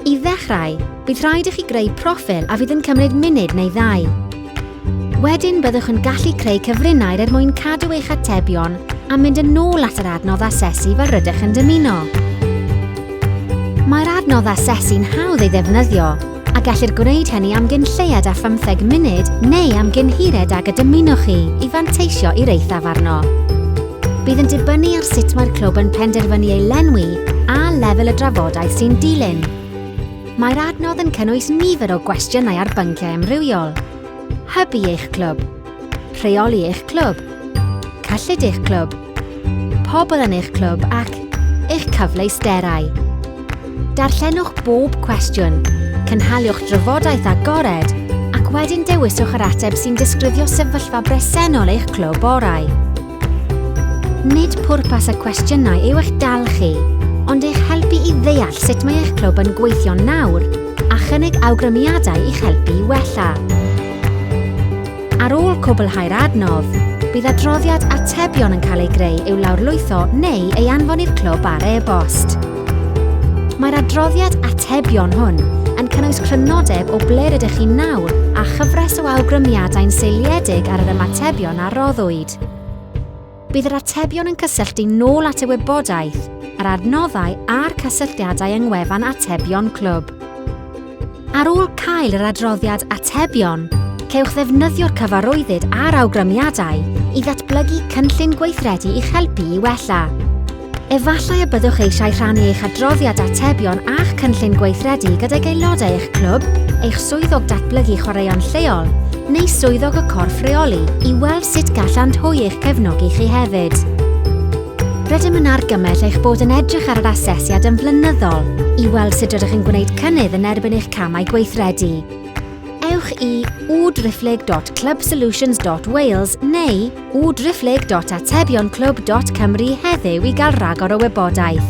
I ddechrau, bydd rhaid i chi greu proffil a fydd yn cymryd munud neu ddau. Wedyn byddwch yn gallu creu cyfrinair er mwyn cadw eich atebion a mynd yn ôl at yr adnodd asesu fel rydych yn dymuno. Mae'r adnodd asesu'n hawdd ei ddefnyddio a gellir gwneud hynny am gyn lleied â phymtheg munud neu am gyn hired ag y dymunwch chi i fanteisio i'r eithaf arno. Bydd yn dibynnu ar sut mae'r clwb yn penderfynu ei lenwi a lefel y drafodaeth sy'n dilyn. Mae'r adnodd yn cynnwys nifer o gwestiynau ar bynciau amrywiol. Hybu eich clwb. Rheoli eich clwb. Cyllid eich clwb. Pobl yn eich clwb ac eich cyfleusterau. Darllenwch bob cwestiwn, cynhaliwch drafodaeth agored ac wedyn dewiswch yr ateb sy'n disgrifio sefyllfa bresennol eich clwb orau. Nid pwrpas y cwestiynau yw eich dal chi, ond eich helpu i ddeall sut mae eich clwb yn gweithio nawr a chynnig awgrymiadau i'ch helpu i wella. Ar ôl cwblhau'r adnodd, bydd adroddiad atebion yn cael ei greu i'w lawrlwytho neu ei anfon i'r clwb ar e-bost. Mae'r adroddiad atebion hwn yn cynnwys crynodeb o ble rydych chi'n nawr a chyfres o awgrymiadau'n seiliedig ar yr ymatebion a roddwyd. Bydd yr atebion yn cysylltu nôl at y wybodaeth, yr adnoddau a'r cysylltiadau yng ngwefan atebion clwb. Ar ôl cael yr adroddiad atebion, cewch ddefnyddio'r cyfarwyddyd a'r awgrymiadau i ddatblygu cynllun gweithredu i'ch helpu i wella. Efallai y byddwch eisiau rhannu eich adroddiad atebion a'ch cynllun gweithredu gydag aelodau eich clwb, eich swyddog datblygu chwaraeon lleol, neu swyddog y corff reoli i weld sut gallant hwy eich cefnogi chi hefyd. Rydym yn argymell eich bod yn edrych ar yr asesiad yn flynyddol i weld sut rydych yn gwneud cynnydd yn erbyn eich camau gweithredu. Ewch i www.clubsolutions.wales neu www.atebion.clwb.cymru heddiw i gael rhagor o wybodaeth.